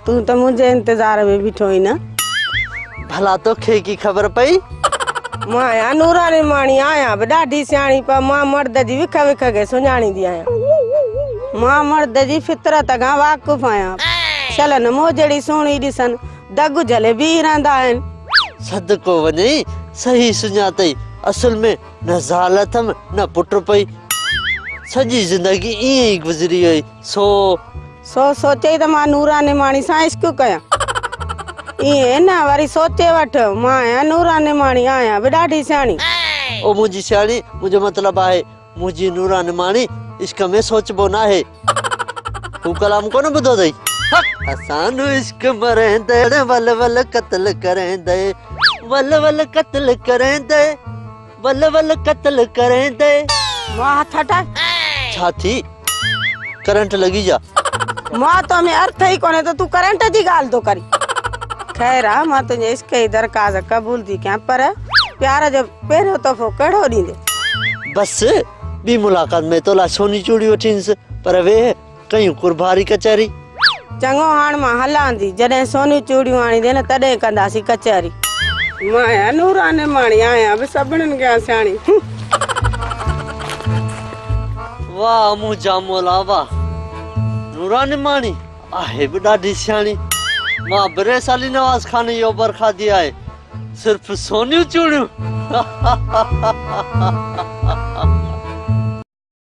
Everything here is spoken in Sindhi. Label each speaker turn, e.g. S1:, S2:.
S1: تون ته منهنجي انتظار ۾ بيٺو آهين نه. ڀلا
S2: توکي ڪي خبر پئي. مان آهيان
S1: نوراني ماڻي آهيان به ڏاڍي سياڻي پر مان مرد جي وک وک کي سڃاڻيندي آهيان. مان مرد جي فطرت کان واقف آهيان. شلن موجڙي سهڻي ڏسن دڳ جهلي بيهي رهندا آهن. صدقو وڃئي
S2: صحيح سڃاتئي اصل ۾ نه زال اٿم نه پٽ پئي. سڄي زندگي ائين ئي گذري وئي سو.
S1: سو سوچي ته مان نورا نعماڻي سان عشق ڪيان. ائين نه وري سوچي وٺ مان آهيان نورا نعماڻي آهيان به ڏاڍي سياڻي. او منهنجي
S2: سياڻي منهنجو مطلب آهي منهنجي نورا نعماڻي عشق ۾ سوچبو ناهي. هو ڪلام ڪونه ٻڌو اٿئي. اسان جو عشق مريندڙ ول ول قتل ڪريندي ول ول قتل ڪريندي. ول ول قتل ڪريندي. مون هٿ
S1: هٽاء. ڇا ٿي
S2: ڪرنٽ لڳي جا. مون تو
S1: ۾ ارٿ ئي ڪونهي ته تون ڪرنٽ جي ڳالهه ٿو ڪرين. خير آ مان تنهنجي عشق جي درخواست قبول ٿي ڪيان پر پيار جو پهريون تحفو ڪهڙو ڏيندي. بس
S2: ٻي ملاقات ۾ تو لاء سوني چوڙي وٺينس پر ويهه. ڪيون قرباري ڪچهري. چڱو هاڻ
S1: مان هلان ٿي. جڏهن سونيون چوڙيون آڻي ڏي نه تڏهن ڪنداسين ڪچهري. مان آهيان نوران نماڻي. آهيان به سڀنن کان سياڻي.
S2: واهه منهنجا مولا واهه. نوران نماڻي آهي به ڏاڍي سياڻي. مان به ريسالي نواز خان جي اوڀر کاڌي آهي. صرف سونيون چوڙيون.